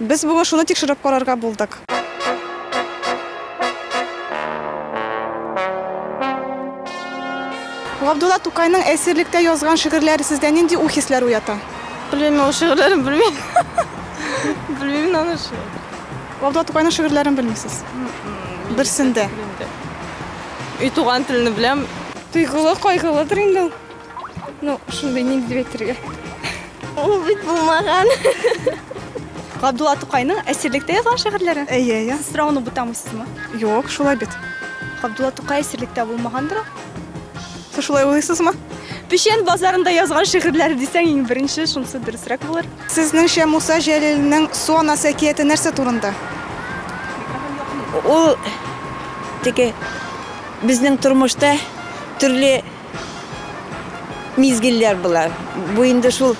Без бүген шуны тикшереп карарга булдык. Габдулла Тукайның әсирлектә язган шигырьләре сездә нинди уй-хисләр уята? Белмим мин ул шигырьләрен, белмим. Белмим мин аны шул. Габдулла Тукайның шигырьләрен белмисез? Берсен дә. Өй туган телне беләм. Тойгылы, кайгылыдыр инде ул. Ну, шундый ник дип әйтергә. Ул бит булмаган. Габдулла Тукайның әсирлектә язган шигырьләре? Әйе, әйе. Сорауны бутамыйсызмы? Юк, шулай бит. Габдулла Тукай әсирлектә булмагандыр? Сез шулай уйлыйсызмы? Печән базарында язган шигырьләре дисәң, иң беренче шунысы дөресрәк булыр. Сезнеңчә Муса Җәлилнең Су анасы әкияте нәрсә турында? Ул теге безнең тормышта төрле Мизгелләр болар. Бу инде шул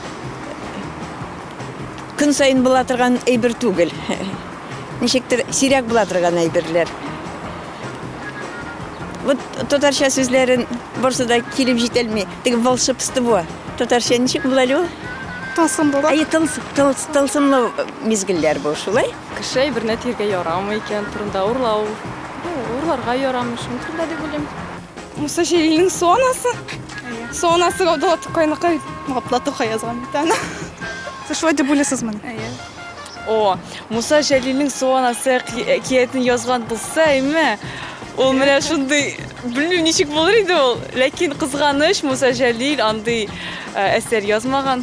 көн саен була торган әйбер түгел. Ничектер сирәк була торган әйберләр. Вот татарча сүзләрен барсы да килеп җитәлми. Теге волшебство. Татарча ничек була әле ул? Тылсымлылык. Әйе, тылсымлы мизгелләр бу шулай. Кеше әйберне тиргә ярамый икән, турында урлау. Ну, урларга ярамый, шуның турында дип уйлыйм. Муса Җәлилнең су анасы. Су анасы Габдулла Тукайныкы бит. Габдулла Тукай язган бит аны. Сез шулай дип уйлыйсызмыни? Әйе. О, Муса Җәлилнең су анасы әкиятен язган булса, әйме, ул менә шундый, белмим, ничек булыр иде ул. Ләкин кызганыч, Муса Җәлил андый әсәр язмаган.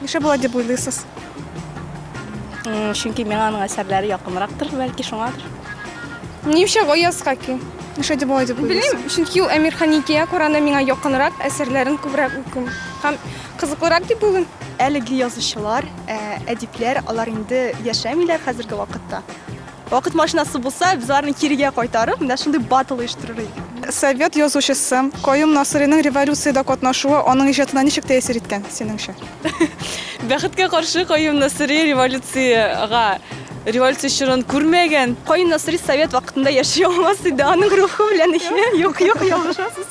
Нишләп болай дип уйлыйсыз? Чөнки миңа аның әсәрләре якынрактыр, бәлки шуңадыр. Нишлә Гаяз Хаки? Нишләп дип болай дип уйлыйсыз? Белмим, чөнки ул Әмир Ханикия Коранда миңа якынрак, әсәрләрен күбрәк укыйм. Һәм кызыклырак дип уйлыйм. Әлеге язучылар, әдипләр, алар инде яшәмиләр хәзерге вакытта. Вакыт машинасы булса, без аларны кирегә кайтарып, менә шундый батл оештырыр идек. Совет язучысы Каюм Насыйриның революциядә катнашуы аның иҗатына ничек тәэсир иткән, синеңчә? Бәхеткә каршы, Каюм Насыйри революциягә, революция чорын күрмәгән. Каюм Насыйри совет вакытында яши алмас иде, аның рухы белән, юк, юк, ялгышасыз.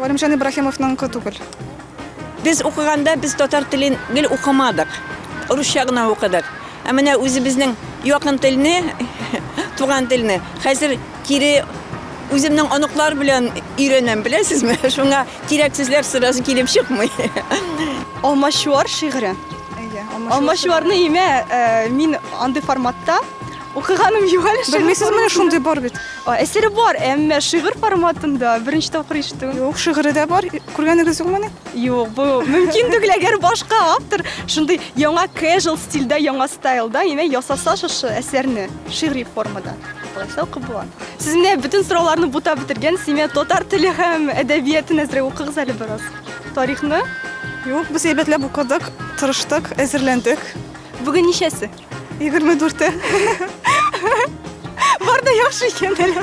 Галимҗан Ибраһимовныңкы түгел. Без укыганда без татар телен гел укымадык. Русча гына укыдык. Ә менә үзебезнең якын телне, туган телне хәзер кире үземнең оныклар белән өйрәнәм, беләсезме? Шуңа кирәк сүзләр сразу килеп чыкмый. Алмачуар шигыре. Алмачуарны имә, мин андый форматта Укыганым юк әле. Белмисез, менә шундый бар бит. Әсәре бар, әмма шигырь форматында беренче тапкыр ишетү. Юк, шигыре дә бар. Күргәнегез юкмыни? Юк, бу мөмкин түгел, әгәр башка автор шундый яңа casual стильдә, яңа стайлда, яме ясаса шушы әсәрне шигъри формада. Булайса укып була. Сез менә бөтен сорауларны бута бетергән, симе татар теле һәм әдәбиятын әзрәк укыгыз әле бераз. Тарихны? Юк, без әйбәтләп укыдык, тырыштык, әзерләндек. Бүген ничәсе? Егерме дүрте. Бар да яхшы икән әле.